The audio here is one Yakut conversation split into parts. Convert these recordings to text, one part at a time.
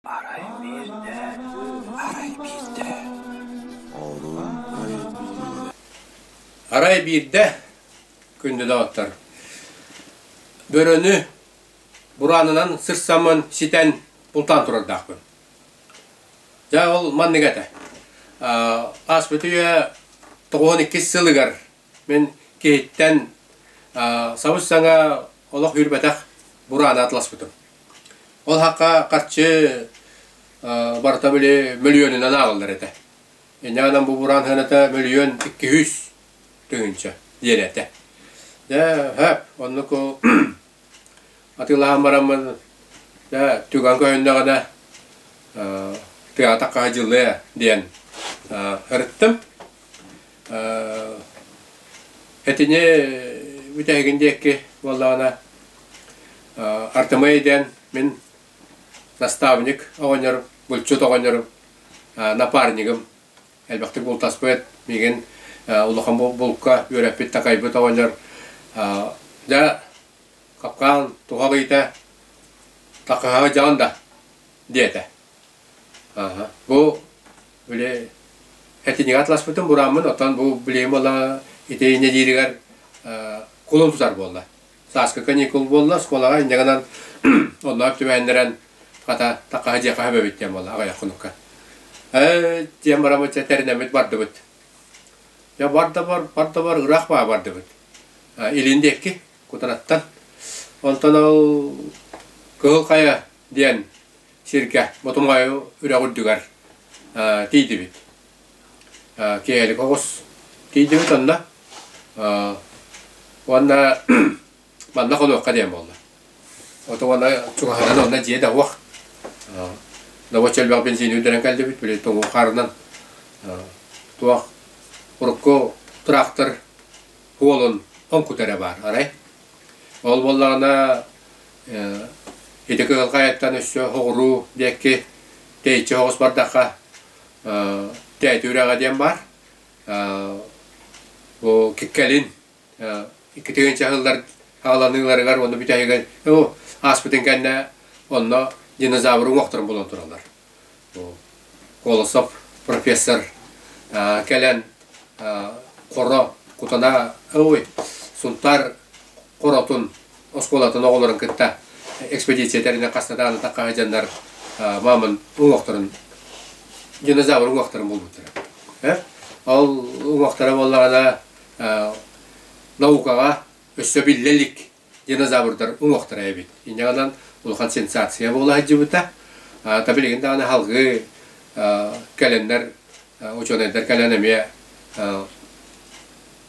Арай биирдэ, арай биирдэ, оҕолорум өйдүүллэр Арай биирдэ, күндү доҕоттор, бөрөнү бураанынан сырсаммын ситэн бултаан турардаахпын. Дьэ ол маннык этэ. Ааспыт үйэ тоҕуһун иккис сылыгар Мин киһиттэн сабыс-саҥа олох үүрбэтэх бурааны атласпытым. Ол хахха харчы барыта били мөлүйүөнүнэн аалаллар этэ. Инньэ гынан бу бураан сыаната мөлүйүөн икки үс тыһыынча диэн этэ. Дьэ, хөп, оннуку атыылаһан бараммын, дьэ, түгэн көһүннэҕинэ, тыатах хаһа дьыллыа диэн сырыттым. Этини бүтэһигин диэки буоллаҕына артымай диэн мин наставник оҕонньорум, булчут оҕонньорум, напарнигым, элбэхтик бултаспыт, миигин улахан булка үөрэппит, такайбыт оҕонньор. Дьэ, капкаан туһах ыйыта, такыһаҕы дьаҕан да, диэтэ. Бу били этинигэ атласпытым бурааммын, оттон бу билигин буола итиинэ дииригэр кулун тутар буолла. Сааскы каникул буолла, оскуолаҕа инньэ гынан оннооп түбэһиннэрэн хата такаһы дьиэхэһэ эбэбит диэн буолла аҕыйаххыныкка. Ээ диэн бараммыт чэ тэринэммит бардыбыт. Дьэ барда бар барда бар ыраах баа бардыбыт. Илин диэки кутараттан. Онтон ол Кыһыл Хайа диэн Сиргэ Ботумҕайы үрэх үрдүгэр тиийдибит. Киэһэлик оҕус тиийдибит онно. Уонна манна хонуохха диэн буолла. Ото уонна чугаһынан онно дьиэ давох. Давоч элбэх бензини үрдэрэн кэлдибит, били тоҥуу хаарынан туох урукку тыраахтар хуолун хоҥкутара баар, арай. Ол буоллаҕына Ити кыһылҕайыттан өссө оҕуруу диэки тэйиччи соҕус бардахха тээти үрэҕэ диэн баар. Бу киккэлин икки тыһыынча сыллар ааланыыларыгар уонна бүтэһигэр ааспытын кэннэ онно динозавры уҥуохтарын булан тураллар. Колосов профессор кэлэн хоро кутана ой Сунтаар хоротун оскуолатын оҕолорун кытта экспедиция тэринэн хастатаан атах хаһыдьаннар мааман уҥуохтарын динозавр уҥуохтарын булбуттара. Э? Ол уҥуохтара буоллаҕына наукаҕа өссө биллэ илик динозаврдар уҥуохтара эбит. Инньэҕинэн улахан сенсация буола сылдьыбыта. Та билигин даҕаны аһылгы кэлэннэр учуонайдар кэлэн эмиэ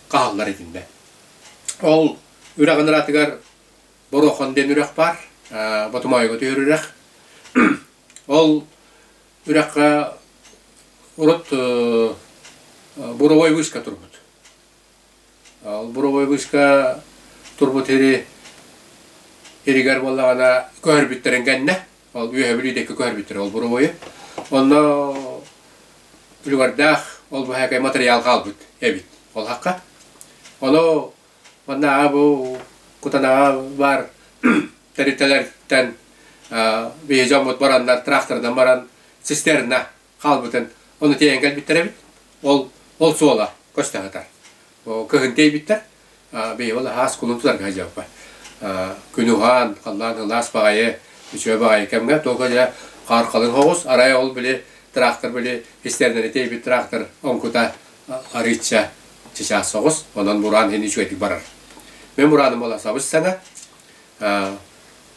хааллар итиннэ. Ол үрэҕин ыратыгар Борохон диэн үрэх баар. Ботумайга түһэр үрэх. Ол үрэххэ урут буровой вышка турбут. Ол буровойбыска турбут сири иригэр буоллаҕына көһөрбүттэрин кэннэ, ол үөһэбил диэки көһөрбүттэрэ ол буровойу. Онно үлүгэрдээх ол быһаакай матырыйаал хаалбыт эбит олуһахха. Ону маннааҕы бу Кутанаҕа баар тэрилтэлэриттэн биһи дьоммут бараннар, траакторынан баран цистерна хаалбытын ону тиэйэн кэлбиттэр эбит ол ол суола көстө сытар кыһын тиэйбиттэр бийи ол аһаас кулун тутарга сылдьаппат күн уһаан халлаан ылаас баҕайы үчүгэй баҕайы кэмҥэ туока дьэ хааркалын хоҕус арай ол били трактор били истэрнэри тиэйбит трактор оҥкута арыычча чычаас соҕус онон мураан иһин үчүгэйдик барар мен мурааным бола сабыс сана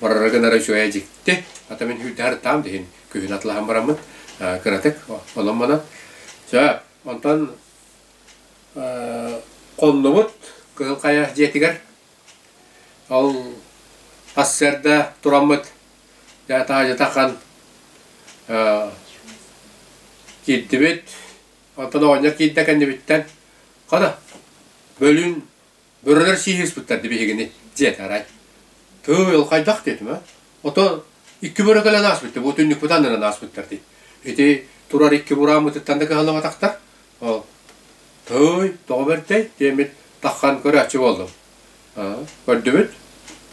барара гынара үчүгэйэ дьикти ата мин хүйтэр таам диһин күһүн атылаһан бараммыт кыратык онон-манан сөп онтон хоннубут Кыһыл Хайа дьиэтигэр ол сарсыарда тураммыт дьэ таһаадьыта хан киирдибит онтон оҕонньор киирдэ кэннибиттэн хана бөлүүн Бөрөлөр сииһиспиттэр ди биһигини, диэт арай. Тыы, ол хайдах диэтим, э? Ото икки бөрө кэлэн ааспыттар, бу түннүкпүт аннынан ааспыттар ди. Ити турар икки бурааммытыттан да кыһаллыбатахтар. Ол тый, тоҕо бэртэй, диэммит таххан көрөөччү буоллум. Көрдүбүт,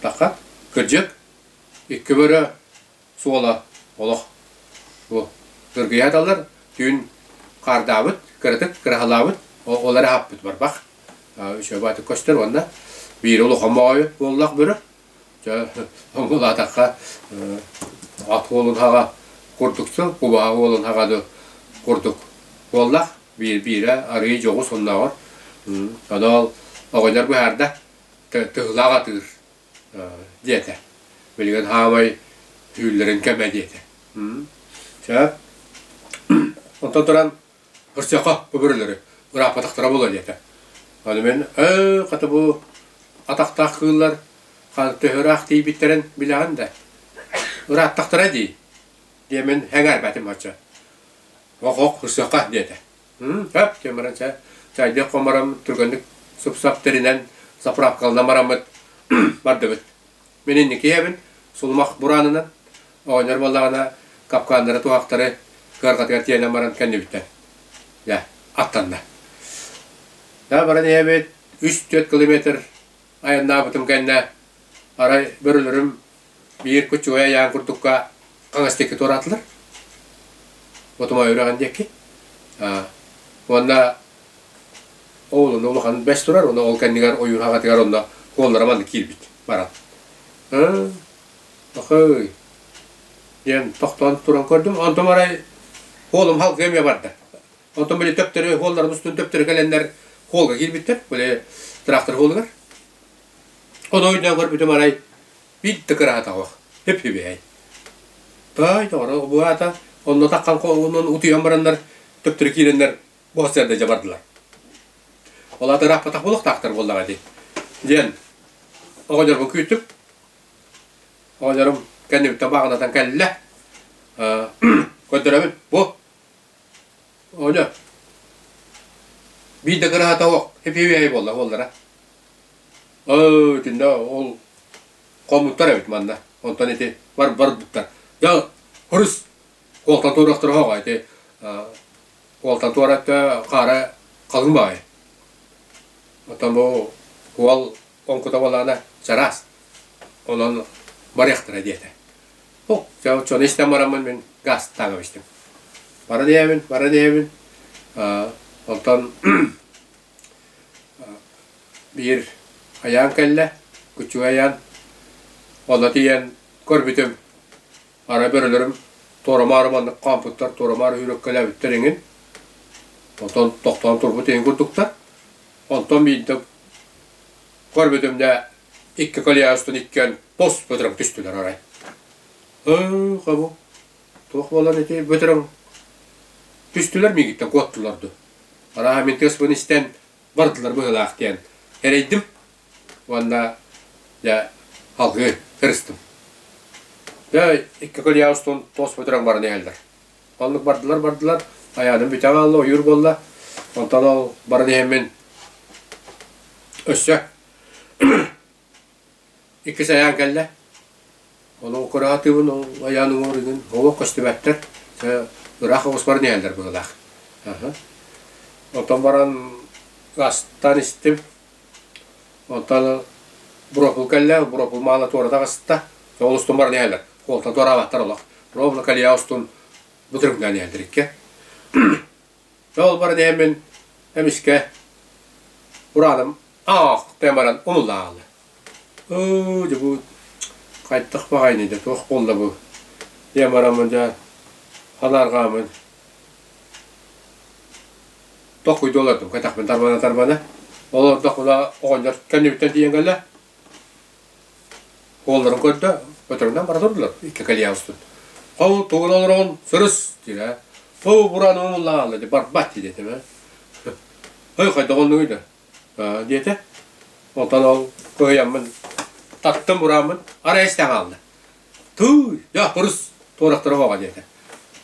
таха, кырдьык, икки бөрө суола олох бу кыргыйа аталлар түүн хаардаабыт кыратык кыраһалаабыт ол эрэ аһаппыт барбах үчүөбэ аты көстөр уонна биир улу хомоойу буоллах бөрөр дьэ омулаатахха ат уолун хаҕа курдук сыл кубаһа уолун хаҕады курдук буоллах биир биирэ арыый дьоҕус оннооҕор тоноол оҕонньор быһаарда тыһылаах атыыр диэтэ. Билигин хаамай түүллэрин кэмэ диэтэ. Чэ, онтон туран бырсыахха бу бөрөлөрү ырааппатахтара буолуо диэтэ. Аны мин «Өө, хата бу атахтаах кыыллар ханна төһөраах тиийбиттэрин билэҕин да, ырааттахтара дии» диэмин сэҥээрбэтим оччо. «Ох-ох, бырсыахха» диэтэ. Чэ, чэ баран чэ чайдык хомором түргэнник сып-сап тэринэн заправкалана мараммыт бардыбыт. Мин инники ийэбин сулумах бураанынан оҕонньор буоллаҕына капкааннара туһахтары кыарҕатыгар тиэнэн баран кэннибиттэн дьэ аттанна. Да баран ийэбит үс-түөрт километр айаннаабытым кэннэ, арай бөрөлөрүм биир кучугай айаан курдукка хаҥастыкка туораатылар. Отумай үрэҕин диэки. Уонна оҕолорун улаханын бэс турар уонна ол кэннигэр ойуур хаҕатыгар онно куоллара маннык киирбит баран. Ыкыый диэн тохтоон туран көрдүм. Онтум арай куолум халгыы эмиэ барда. Оттон били төптөрү, холларын устун төптөрү кэлэннэр холга киирбиттэр, били трактор холугар. Ону ойдоон көрбүтүм арай, биирдэ кыраатаҕах, хөп-хөбөй. Таай, тоҕоро быһаата, онно таххан онон утуйан бараннар, төптөрү киирэннэр, бу сэрдэ дьабардылар. Ол аты ырааппатах буолуохтаахтар буоллаҕа ити. Диэн оҕонньорбун күүтүп, оҕонньорум кэннибиттэн бааҕынатан кэллэ. Көрдөрөбүн, бу Оля, биир да кыраһата олох эпиэбиэһэй буолла буоллара. Оо, итиннэ ол хомуттар эбит манна. Онтон ити бар барбыттар. Я хрус куолтан туорахтара хоҕа ити куолтан туора хаара халыҥ баҕайы. Оттон бу куол Оҥкутовалаана чараас, онон барыахтара диэтэ. О, чэ, чону истэн бараммын мин гаастаан кэбистим. Баран ийэбин, баран ийэбин. Онтон биир айаан кэллэ, күчүгэй айаан. Ону тиийэн көрбүтүм, Ара бөрөлөрүм туорамаары маннык хаампыттар, туорамаары үүрүккэлээбиттэр иҥин. Онтон тохтоон турбут иһин курдуктар. Онтон биирдэ көрбөтүмнэ икки колья устун иккиэн пос бөтөрөҥ түстүлэр арай. Һыыха бу туох буолан ити бөтөрөҥ түстүлэр миигиттэн куоттулар ду. Арааһа мин тыаспын истэн бардылар быһыылаах диэн эрэйдим. уонна дьэ алгыы сырыстым. Дьэ икки көл яа устун туос бөтүрэн баран иһэллэр. Баллык бардылар бардылар, айаным бүтэн аалла, ойуур буолла. Онтон ол баран иһэммин өссө иккис айаан кэллэ. Ону кыраатыбын, ол айаан уҥуоругун олох көстүбэттэр. Ыраах оҕус баран иһэллэр быһылаах. Оттон баран астан истим, Онтон буропулкаллаах буропул маала туората аҕыста, ол устун баран иһэллэр. Уолта туораабаттар олох. Буропулкалия устун бутуруҥнаан иһэллэр икки. Ол баран иһэн мин эмискэ урааным аах диэн баран умуллаҕалыы. Оо дьэ бу хайдах баҕайыный да туох буолла бу? диэн бараммын дьэ анаарҕааммын тохуйду олордубука тахпын тарбана тарбана олордох мына оҕонньор кэннибиттэн тиийэн кэллэ уолларын көрдө өтөрүнэн бара турдулар икки кэлийэ устун хау тугун олороҕун сырыс диирэ ту бураан умуллаалла ди барбат дии диэтим э ой хайдах оннугуй да диэтэ онтон ол кыһыйаммын таттым бурааммын арай истэн хаалла тууй дьа пырыс туорахтара оҕоҕо диэтэ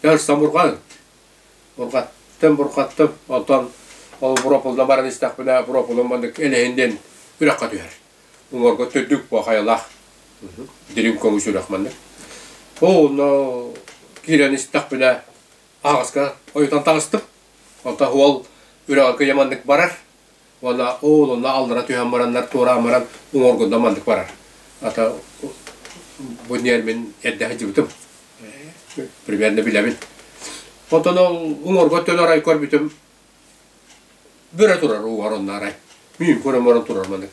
дьэ ырсан бурҕаан Булҕаттым, бурҕаттым, онтон ол буропулунан баран истэхпинэ, буропулун маннык элэһин диэн үрэххэ түһэр. Уҥуоргу төрдүк бу хайалаах дириҥ көҥүс үрэх маннык. Онно киирэн истэхпинэ, аһаҕаска ойутан таҕыстым. Онтон уол үрэҕи кыйа маннык барар. Уонна ол онно аллара түһэн бараннар туора амаран уҥуоргунда маннык барар. Ата бу ньэр мин эрдэхи дьыбытым. Примерно билэбин. Онтон ол уҥуоргу өттөн арай көрбүтүм бөрө турар угар онно арай. Мин көрөн баран турар маннык.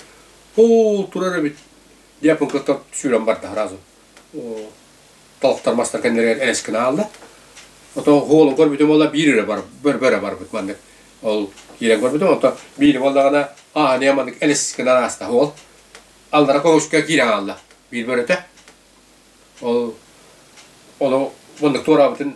Оо турар эбит. Диэппын кыттан сүүрэн барда сразу. Толтор мастар кэннеригэр элэс гына аалла. Ото хуолун көрбүтүм буолла биир өрө бар бөрө барбыт маннык. Ол киирэн көрбүтүм, ото биир буоллаҕына ааһыны маннык элэс гына ааста хуол. Алдара көмүскэ киирэн аалла биир бөрөтө. Ол ону муннук туораабытын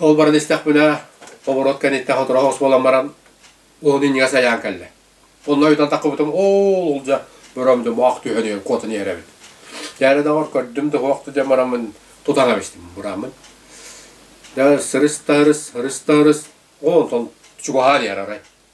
Ол баран истэхпинэ, оборот кэнниттэн сотору буолан баран, уһун иннигээс айаан кэллэ. Онно ыйтан таххыбытым, оо, ол дьэ, бөрөм да моох түһэн куотан иһэрэбин. Дьээре доҕор көрдүм да туох да дьэ марамын тутан эбистим бураммын. Дьэ сырыс да ырыс, ырыс да ырыс, онтон чугаһаан иһэр арай.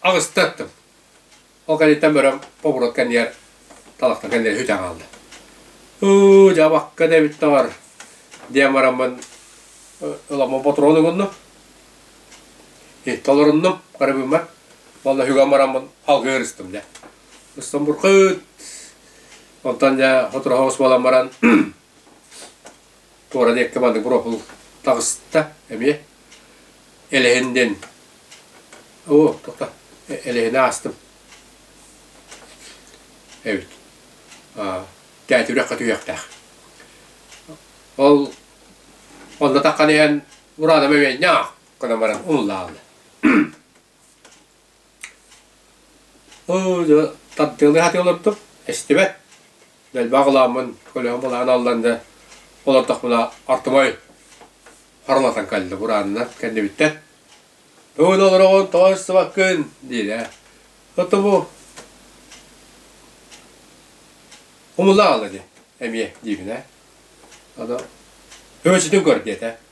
Аҕыстаттым. Ол кэнниттэн бөрөм оборот кэннигэр талахтан кэннигэр үтэн хаалда. Ыы, дьабакка да эбиттэр. Диэн бараммын ыламмын ботуруон угуннум. Итти олоруннум, карыбыммар. Олла хүгэн бараммын алгыыр ыстым дэ. Ыстым буркыт. Онтон дьэ хотураха ус буолан баран туора диэкки бары буропул таҕыста эмиэ элэһин диэн оо тоқта элэһинэ аастым эбит тээтэ үрэххэ түһүөхтээх ол онно таххан иһэн бураанам эмиэ ньаах гынан баран умуллаалла Оо, дьэ, тардыалыы сатыы олордум, эстибэт. Дэлбэх ылааммын, көлөһүм ылаан аллан да олордохпуна ортомой харалатан кэллэ бураанынан кэннибиттэн. Бүгүн олороҕун тоҕо истибаккын, диирэ. Ото бу умулаал ини эмиэ диибинэ, ото һөөчүтүн көр диэтэ.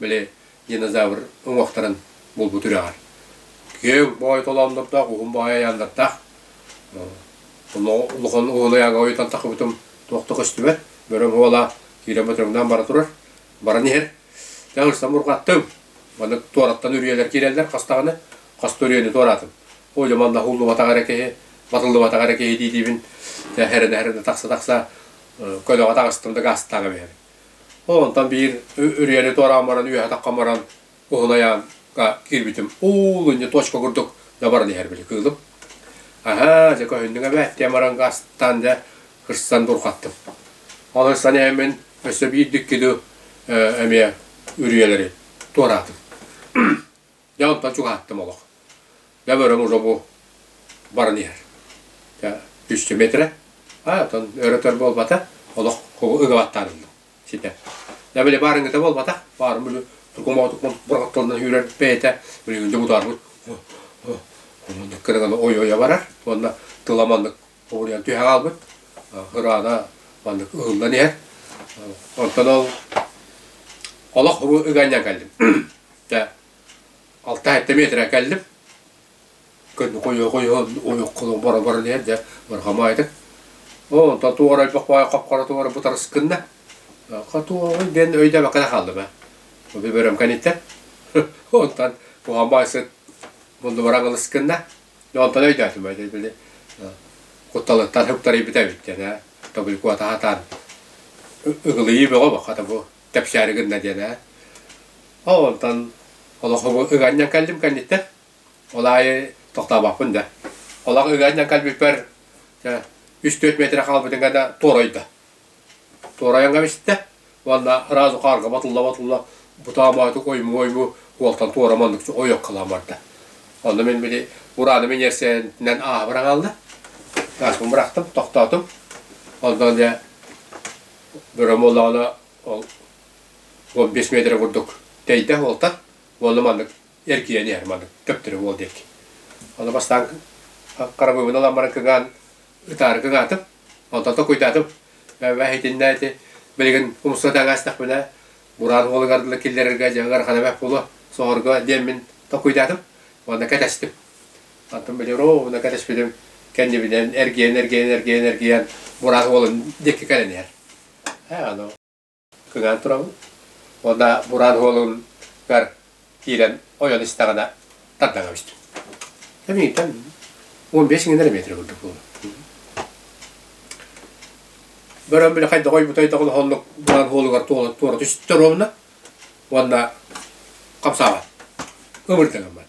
били динозавр уҥуохтарын булбут үрэҕэр. Күөг бой толооннурдаах, уһун бой айааннартаах. Улахан уһун айаанга ойутан тахыбытым туохта көстүбэт. Бөрөм уола киирэн бөтөҥнөөн бара турар. Баран иһэр. Тәҥ ыстан мурҕаттым. Манна туораттан үрүйэлэр киирэллэр хастаҕына. Хаста үрүйэни туораатым. Ой, манна хуллубатаҕар эрэ киһи, батыллыбатаҕар эрэ киһи диэтибин. Хәрэнэ-хәрэнэ тахса-тахса көлөҕө таҕыстым да гаастааҕа биһэрин. Ол онтон биир үрүйэни туораан баран, үөһэ-атахха баран, уһун айаанга киирбитим. Уулунньу точка курдук да баран иһэр били кыылым. Аһаа, дьэ көһүннүҥ эбээт, диэн баран астаан дьэ кырсан бурҕаттым. Ол ырсан ээммин өссө биир да икки дуу эмиэ үрүйэлэри туораатым. Дьэ онтон чугаһаттым олох. Дьэ бөрөм уже бу баран иһэр. Дьэ, 200 метрэ. А, оттон өр-өтөр буолбата, олох ыгыбаттаарыллым ситэ. Дьэ били баарыҥыта буолбатах, баарым били тукумаҕа-тукумаҕа бураҕатталынан үүрэр бэйэтэ, билигин дьэ бутаарбыт оннук кырыгана ой-ойо барар, уонна тыла маннык Хомуруйан түһэ хаалбыт. Ыраана маннык ыһыллан иһэр. Онтон ол олох ыганньан кэллим. Дьэ, алта алта метрэ кэллим. Күн хойуо-хойуо ойоххоло бара-баран иһэр. Дьэ, барҕамаайдык. Оо, онтон туорайбах баай хапхара туора бытарыс гынна. Хотуоҕуй диэн өйдөөбөккө да хааллым ээ. Бу бөрөм кэнниттэн. Онтон куһаан баай сыт муннубар аҥылыс гынна. Онтон өйдөөтүмэ итини кутталыттан суптарыйбыта эбиттэн ээ тобулькуата хатаан ыгылыйыы бөҕө бу хата бу тэпсээри гынна диэн ээ ол онтон олохубу ыганньан кэллим кэнниттэн ол аайы тохтообоппун да олох ыганньан кэлбиппэр үс-төрт метрэ хаалбытын гана туорайда Туорайаҥҥа бистэ уонна ыраас ухаарга батылла-батылла бутаам оойутук ойму-ойму уолтан туора маннык ойуоккалаан барда. Онно мин били урааны миниэрсэйинэн ааһа хаалла. Ааспын бырахтым, тохтоотум. Онтон дьэ бөрө буоллаҕына ол уон биэс миэтэрэ курдук тэйдэ уолтан уонна маннык эргийэн иһэр маннык төптөрү уол диэки. Ону бастаан харабыыбын ылан баран кыҥаан ытаарга ытаатым, онтон куйдаатым, бэһ итиннээти, билигин умсуга таҥаастахпына, бураан уолугар дылы киллэрэргэ дьэ ыарахана бэһ буолуо, соҕорго диэммин токуйдаатым уонна кэтэстим. Онтон били ровно кэтэспитим, кэннибинэн эргийэн, эргийэн, эргийэн, эргийэн бураан уолум диэки кэлэн иһэр. Ээ ону гынан турабын. Уонна Муран уолугар киирэн ойон истэҕинэ тардаҥа көстүм. Эниттэн он бес иҥнэр метр курдук буолла. Бөрөн били хайда хой бутай дагын хоннук Муран уолугар туола туора түстөр уонна уонна хамсаабат. Ымырдыгыммат.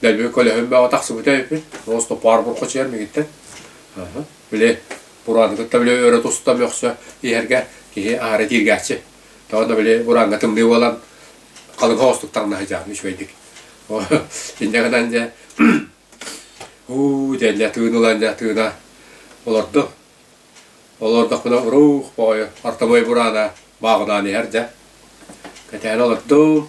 Дэлби көлөһүн бөҕө тахсыбыта үһү. Остопаар буркучуйар мигиттэн. Били бураангытын да били өрө туста мөхсө иһэргэ киһи аһары тииргээччи. Тоҕо били бурааҥҥа тымныы буолан халыҥха оҕустук таҥнаһа дьаамы үчүгэйдик. Инньэ гынан дьэ уу диэн дьэ тыын ылан дьэ тыына олордум. Олордохпуна уруух бөҕөйө ортомуой бураана бааҕынаан иһэр дьэ. Кэтээн олордум.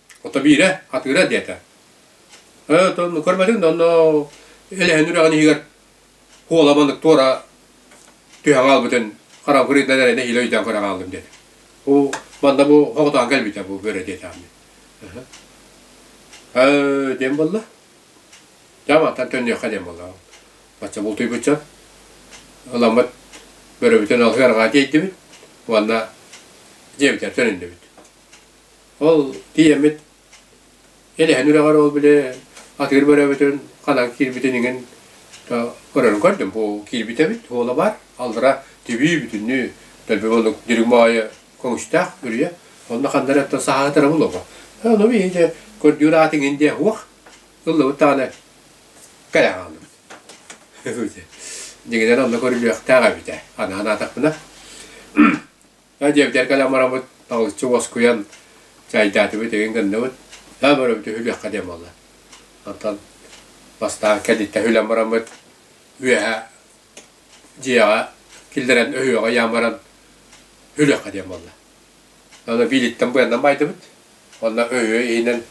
Отобиирэ, атыыра диэтэ. Өө, ну көрбөтүҥ да онно Элэһин үрэҕин иһигэр куола маннык туора түһэн хаалбытын харафырый да эрэнэ илэ өйдөөн көрө хааллым диэтэ. Бу манна бу хоҕотоон кэлбитэ бу бөрө диэтэ ааммын. Өө диэн буолла. Дьэ мантан төннүөххэ диэн буолла. Бачча бултуйбучча ыламмыт бөрөбүтүн алҕыы арҕаа тиэйдибит уонна дьиэбитигэр төнүннүбүт. Ол ийэммит илиһин үрэҕэр ол били атыыр бөрөбүтүн ханан киирбитин иҥин көрөрүн көрдүм. Оо, киирбит эбит, уола баар, аллара тибии бүтүннүү дэлби булуҥ дириҥ баҕайы көҥүстээх үрүйэ. Онно ханна эрэ оттон саһаатара булуоҕа. Ону мин ити көрдүүр аат иҥин диэ уох ыллыбыт даҕаны кэлэн хааллыбыт. Дьиҥинэн онно көрүлүөхтээх эбит ээ, анаан аатахпына дьиэбитигэр кэлэн барабыт, талыччы уоскуйан чайдаатыбыт, игин гынныбыт, да бөрөбүт үһүлүөххэ диэн буолла. Онтон бастаан кэнниттэн үһүлэн бараммыт, үөһэ дьиэҕэ киллэрэн өһүөҕэ ыйаан баран үһүлүөххэ диэн буолла. Аны биилиттэн быаннан баайдыбыт. Онно өһүө иһинэн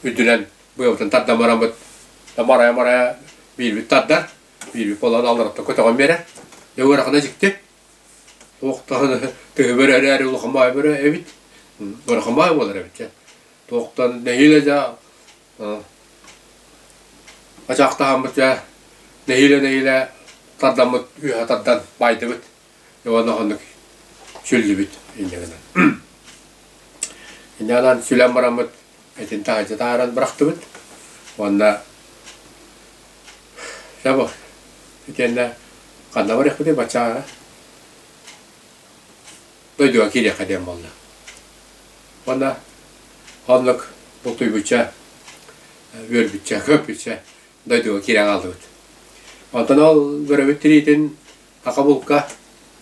үрдүнэн быабытын тардан бараммыт. Да марая-марая биилбит тардар, биилбит буолан аллараттан көтөҕөн биэрэр. Дьэ, ыарахана дьикти, Туох даҕаны төһөбөр эрээри лухамаайы бөрө эбит, бырахамаайы буолар эбит дьэ. Туохтан нэһиилэ дьэ ачаахтаһаммыт дьэ нэһиилэ-нэһиилэ тардаммыт үөһэ тардан баайдыбыт уонна оннук сүллүбүт инньэ гынан. Инньэ гынан сүлэн бараммыт этин таһаачатааран бырахтыбыт уонна чабо итиэннэ ханна барыахпытый баччаҕа дойдуга киириэххэ диэн буолла уонна оннук бултуйбучча үөрбүччэ көппүччэ дойдуга киирэн хааллыбыт онтон ол бөрөбүт тириитин ака булка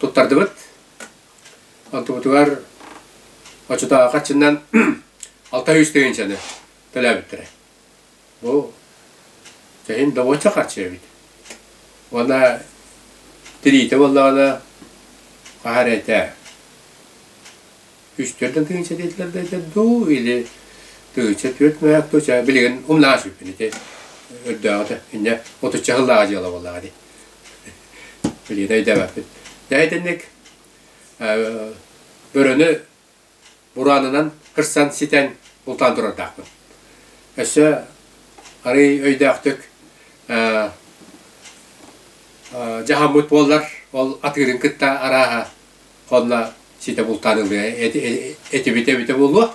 туттардыбыт Отуутугар очутааҕы хаччынан алта үс тыһыынчаны төлөөбүттэрэ. Бу чэһин добуочча харчы эбит. Уонна тириитэ буоллаҕына хаһа эрэ этэ үс төрдөн тыһыынча диэтилэр да этэ дуу или тыһыынча түөрт мөһөөк туча билигин умнаҕас бүппүн ити үрдээҕитэ инньэ отучча сыллааҕа дьыала буоллаҕа дии Билиэт өйдөбөппүт. Дьэ итинник бөрөнү бураанынан кырсан ситэн бултаан турардаахпын. Өссө арый өйдөөхтүк дьаһаммыт буоллар ол атыырын кытта арааһа хонно ситэ бултаан ылыа этибитэ эбитэ буолуо